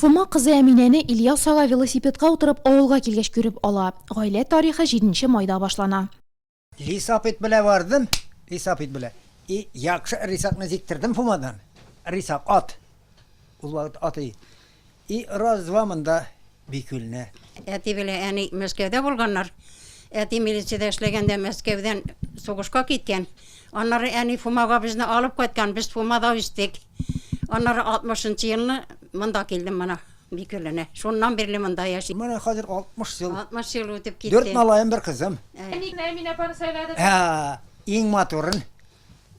Фома кызы Әминәне Ильяс ага велосипедка утырып авылга килгәч күреп ала. Гаилә тарихы җиденче майда башлана. Лисап ит белә бардым, лисап ит белә. И якшы рисакны җиктердем Фомадан. Рисак ат. Ул вакыт ат и. И раз-два монда Бикүлне. Әти белән әни Мәскәүдә булганнар. Әти милициядә эшләгәндә Мәскәүдән сугышка киткән. Аннары әни Фумага безне алып кайткан, без Фумада үстек. Аннары 60 елны монда килдем мына Бикүленә. Шуннан бирле монда яшим. Менә хәзер 60 ел. 60 ел үтеп китте. Дүрт малаем, бер кызым. Әни генә Әминә апаны сайлады. Ә, иң матурын.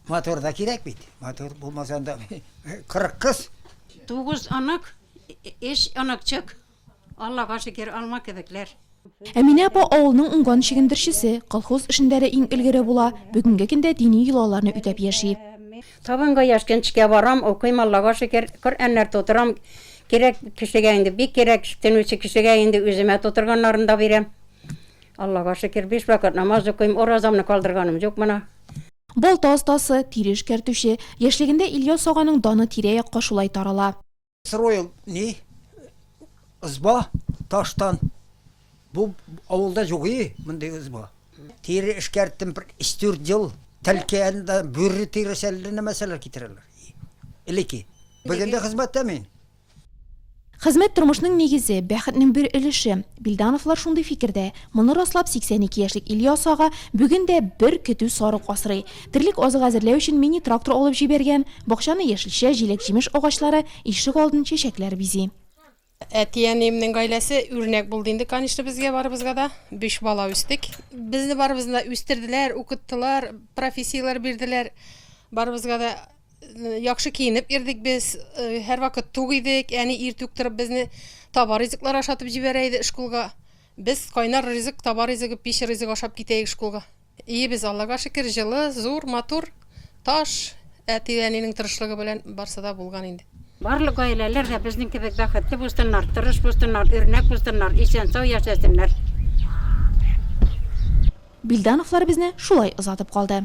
Матур да кирәк бит. Матур булмаса анда 40 кыз. Тугыз онык, өч оныкчык. Аллага шөкер, алма кебекләр. Әминә апа авылның уңган чигендерчесе, колхоз эшендә дә иң элгере була, бүгенге көндә дини йолаларны үтәп яши. Табынга яшкенчкә барам, укыйм, Аллага шөкер, Коръәннәр тутырам, кирәк кешегә инде, бик кирәк төнүче кешегә инде үземә тутырганнарын да бирәм. Аллага шөкер, биш вакыт намаз укыйм, уразамны калдырганым юк мына. Балта остасы, тире эшкәртүче. Яшьлегендә Ильяс аганың даны тирә-якка шулай тарала. Строил ни ызба таштан. Бу авылда юк и мондый ызба. Тире эшкәрттем бер өч дүрт ел. Тәлкәендә бүре тиресе әллә нәмәсәләр китерәләр. Элеке. Бүген дә хезмәттә мин. Хезмәт тормышның нигезе, бәхетнең бер өлеше. Бильдановлар шундый фикердә. Моны раслап 82 яшьлек Ильяс ага бүген дә бер көтү сарык асрый. Терлек азыгы әзерләү өчен мини-трактор алып җибәргән, бакчаны яшелчә, җиләк-җимеш агачлары, ишек алдын чәчәкләр бизи. Әти-әниемнең гаиләсе үрнәк булды инде, конечно, безгә барыбызга да. Биш бала үстек. Безне барыбызны да үстерделәр, укыттылар, профессияләр бирделәр. Барыбызга да э, яхшы киенеп йөрдек без, э, һәрвакыт тук идек. Әни иртүк торып безне таба ризыклар ашатып җибәрә иде школга. Без кайнар ризык, таба ризыгы, пич ризыгы ашап китәек школга. Өебез, Аллага шөкер, җылы, зур, матур. Таш, әти-әнинең тырышлыгы белән барсы да булган инде. Барлык гаиләләр дә безнең кебек бәхетле булсыннар, тырыш булсыннар, үрнәк булсыннар, исән-сау яшәсеннәр. Бильдановлар безне шулай озатып калды.